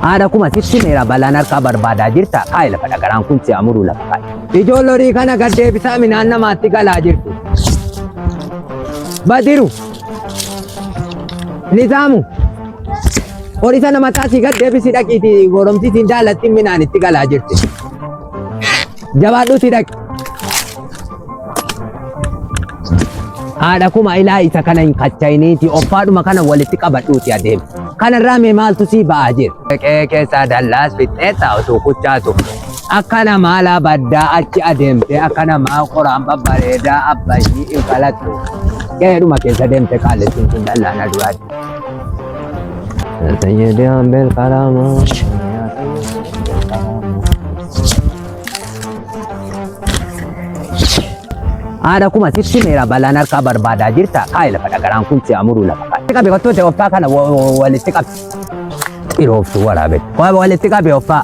Haadha kuma sitti meera balaan harkaa barbaadaa jirta kaayi lafa dhagaraan kun si amuruu lafa kaayi. Ijoollee horii kana gad deebisaa midhaan namaatti galaa jirtu. Badiru. Nizaamu. Horii sana mataa si gad deebisi dhaqiiti goromsi siin daalatti midhaan itti galaa jirti. Jabaadhuutii dhaqi. Haadha kuma ilaa isa kana hin kachayiniiti offaadhuma kana walitti qabadhuuti adeemi. Kanarraa mee maaltu sii ba'aa jira? Qe'ee keessaa dallaas fixxeessa utuu kuchaatu. Akka namaa labaddaa achi adeemtee akka namaa qoraan babbareedaa abbayyii hin falattu. Qe'eedhuma keessa deemte qaalessiin kun dallaa na duraatti. Sayyidii Ambeel Qaraamaa. Haadha kuma sitti meera balaan harkaa barbaadaa jirta. Kaayi lafa dhagaraan kun si amuruu lafa kaayi. Qabi kottuu ta'e offaa kana wa- wa- walitti qabi. Dhirooftu waraabee. Waa walitti qabi offaa.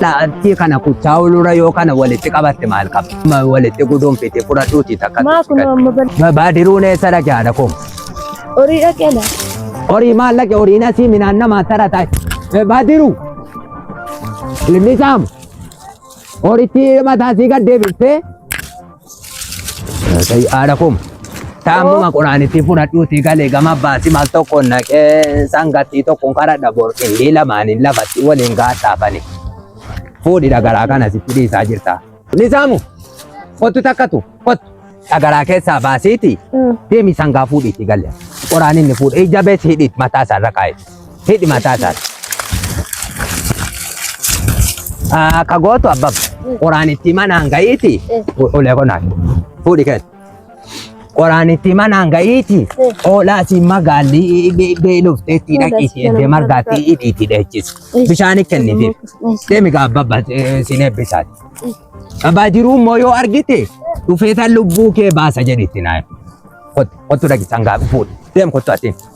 Dhaabbii kana kuchaa ulura yoo kana walitti qabatte maal qaba? Ma- Walitti guduunfite fudhadhuuti takka. Maa kun amma bal- Ba- Baadiruun eessa dhagaa haadha kuma? horii dhaqeela. Horii maal dhaqe horiin asii minaan namaa tara taate. Baadiru Ilmi saama. Horichi mataa sii gad deebistee. Haadha kuma. Taamuma quraanitti fudhadhuuti galee gama baasi maal tokko naqee sangattii tokkoon karadha bor qindii lamaaniin lafatti waliin gaadhaafani. Fuudhidha garaa kana sitti dhiisaa jirta. Nizaamu kottu takkatu kottu dhagaraa keessaa baasiiti deemi sangaa fuudhiitti galle qoraan inni fuudhe ija bees hidhiit mataa isaa irra kaa'e hidhi mataa isaa akka gootu abbab qoraan itti manaan ga'iiti ulee qonaan fuudhi keessa. Qoraanitti manaan ga'iiti oolaasi magaalli beelofteetti dhaqiiti eddee margaatti hidhiiti dheechisa. Bishaan kennifiif deemi gaabba siin eebbisaati. Abbaa jiruu immoo yoo argite dhufeetan lubbuu kee baasa jedhitti naa. Kottu dhaqisan gaabba fuudhi deem kottu atiin.